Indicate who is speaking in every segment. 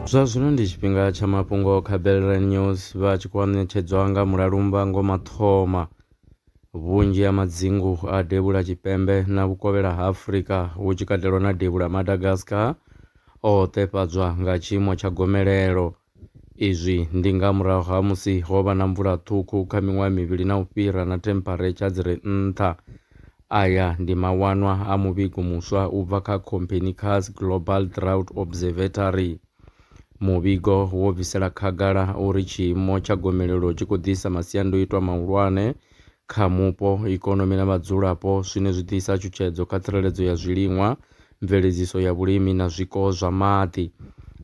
Speaker 1: Zwa zwino ndi tshifhinga tsha mafhungo kha Belrand News vha tshi khou ṋetshedzwa nga Mulalumba Ngoma Thoma. Vhunzhi ha madzingu a Devhula Tshipembe na Vhukovhela ha Afrika hu tshi katelwa na Devhula Madagascar o ṱefhadzwa nga tshiimo tsha gomelelo. Izwi ndi nga murahu ha musi ho vha na mvula ṱhukhu kha miṅwaha mivhili na u fhira na thempharetsha dzi re nṱha. Aya ndi mawanwa a muvhigo muswa u bva kha Copernicus Global Drought Observatory. Muvhigo wo bvisela khagala uri tshiimo tsha gomelelo tshi khou ḓisa masiandoitwa mahulwane kha mupo, ikonomi na vhadzulapo zwine zwi ḓisa tshutshedzo kha tsireledzo ya zwiliṅwa Mveledziso ya vhulimi na zwiko zwa maḓi,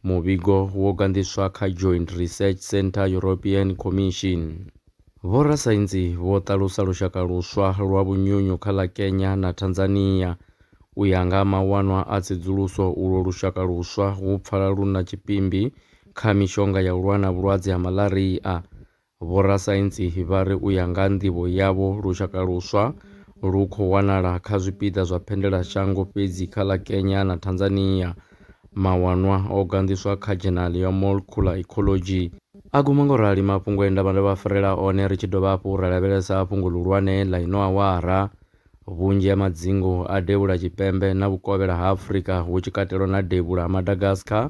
Speaker 1: Muvhigo wo ganḓiswa kha Joint Research Centre European Commission. Vhorasaintsi vho ṱalusa lushaka luswa lwa vhunyunyu kha ḽa Kenya na Tanzania. U ya nga ha mawanwa a tsedzuluso, ulwo lushaka luswa hu pfala lu na tshipimbi kha mishonga ya u lwa na vhulwadze ha malaria. Vhorasaintsi vha ri u ya nga ha nḓivho yavho, lushaka luswa lu khou wanala kha zwipiḓa zwa phendelashango fhedzi kha ḽa Kenya na Tanzania. Mawanwa o ganḓiswa kha dzhenali ya Molecular Ecology. A guma nga u rali mafhungo e nda vha ndo vha farela one ri tshi dovha hafhu ra lavhelesa fhungo ḽihulwane ḽa ino awara. Vhunzhi ha madzingu a Devhula Tshipembe na Vhukovhela ha Afrika, hu tshi katelwa na Devhula ha Madagascar,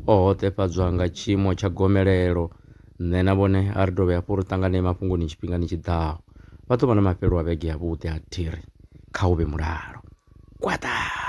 Speaker 1: o hoṱefhadzwa nga tshiimo tsha gomelelo. Nṋe na vhone a ri dovhe hafhu ri ṱanganee mafhungoni tshifhingani tshi ḓaho. Vha ḓo vha na mafhelo a vhege yavhuḓi ha thiri. Kha u vhe mulalo. Gwaḓaa!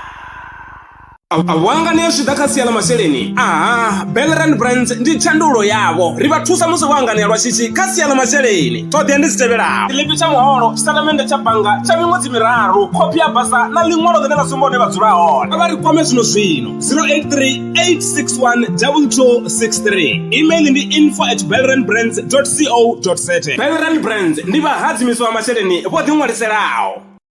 Speaker 1: wanga ni a zwi ḓa kha sia ḽa masheleni aha belran brands ndi tshandulo yavho ri vha thusa musi vho anganea lwa shishi kha sia ḽa masheleni ṱhoḓea ndi dzi tevhelaho tshiḽipi tsha muholo tshitatamennde tsha bannga tsha miṅwedzi miraru khophi ya basa na ḽiṅwalo ḽine ḽa sumba hune vha dzula hone vha ri kwame zwino zwino 0838612263 email ndi info at belran brands co za belran brands ndi vhahadzimiswa masheleni vho ḓiṅwaliselaho